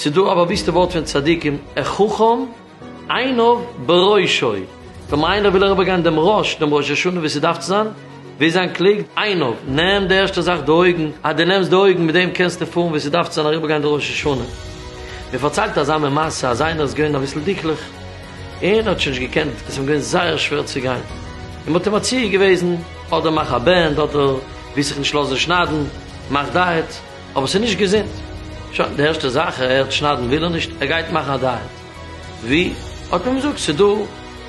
ס'איז דא א באוויסטע ווארט פון צדיקים, חכם עיניו בראשו, ווען איינער וויל אריבער גיין דעם ראש, דעם ראש השנה ווי ס'דארף צו זיין, ווי זיין קלוגט, עיניו, נעם די ערשטע זאך די אויגן, אז דו נעמסט די אויגן מיט דעם קענסטו פארן ווי ס'דארף צו זיין אריבער גיין די ראש השנה. מ'פארציילט אזא מין מעשה אז איינער איז געווען אביסל דיקליך, און ער האט שוין נישט געקענט, עס איז אים געווען זייער שווער צו גיין, און מען האט אים מציע געוועזן, אדער מאך א בענד, אדער וועסט זיך נישט לאזן שניידן, מאך דייעט, אבער עס איז נישט געזונט. שוין, די ערשטע זאך ער הערט שניידן וויל ער נישט, ער גייט מאכן א דייעט. ווי? האט מען אים געזאגט, ס'איז דא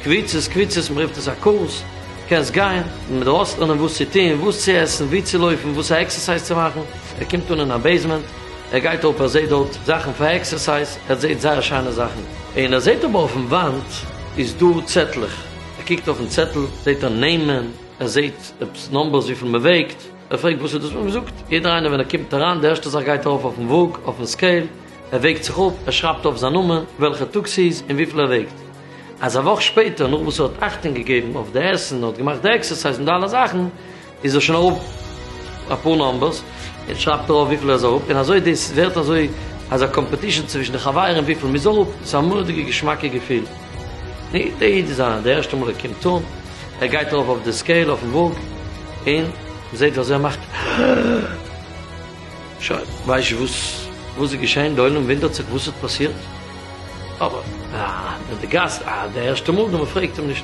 קבוצות, קבוצות, מען רופט עס א קורס, קענסט גיין, מען דארף אויסלערנען וואס צו טון, וואס צו עסן, ווי צו לויפן, וואס א עקסערסייז צו מאכן. ער קומט אן אין א בעיסמענט. ער גייט אראפ ער זעהט דארט זאכן פאר עקסערסייז ער זעהט זייער שיינע זאכן און ער זעהט אבער אויפן וואנט איז דא צעטלעך ער קוקט אויפן צעטל זעהט ער נעמען ער זעהט עפעס נאמבערס וויפיל מען וועגט ער פרעגט וואס איז דאס וואס מען זאגט יעדער איינער ווען ער קומט אריין די ערשטע זאך גייט ער ארויף אויפן וואג אויפן סקעיל ער וועגט זיך אפ ער שרייבט אויף זיין נאמען וועלכע טאג ס'איז און וויפיל ער וועגט אז א וואך שפעטער נאך וואס ער האט אכטונג געגעבן אויף די עסן ער האט געמאכט די עקסערסייז און די אלע זאכן איז ער שוין אראפ אפאר נאמבערס און שרייבט דערויף וויפיל ער איז אראפ און אזוי דאס ווערט אזוי אזא קאמפעטישן צווישן די חברים וויפיל מ'איז אראפ, ס'איז א מורא'דיגע געשמאקע געפיל. די איד איז א די ערשטע מאל ער קומט אן, ער גייט ארויף אויף די סקעיל אויפן וואג און מ'זעט וויאזוי ער מאכט שוין ווייסט נישט וואס וואס איז געשען, די עולם וואונדערט זיך וואס האט פאסירט אבער די גאסט די ערשטע מאל דא מ'פרעגט אים נישט.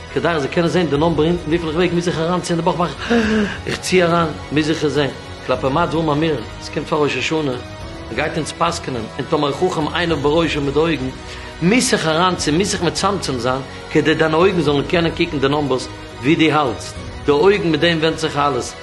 כדי איך זאל קענען זען די נאמבער אונטן וויפיל איך וועג מוז איך אריינציען די בויך מאך איך צי אריין מוז איך עס זען כלפי מעט זאל מען מיר עס קומט פאר ראש השנה מען גייט אונז פסקנ'ן און טאמער חכם עיניו בראשו מיט די אויגן מוז איך אריינציען מוז איך מצמצם זיין כדי דיינע אויגן זאלן קענען קוקן די נאמבערס ווי דו האלטסט די אויגן מיט דעם ווענדט זיך אלעס.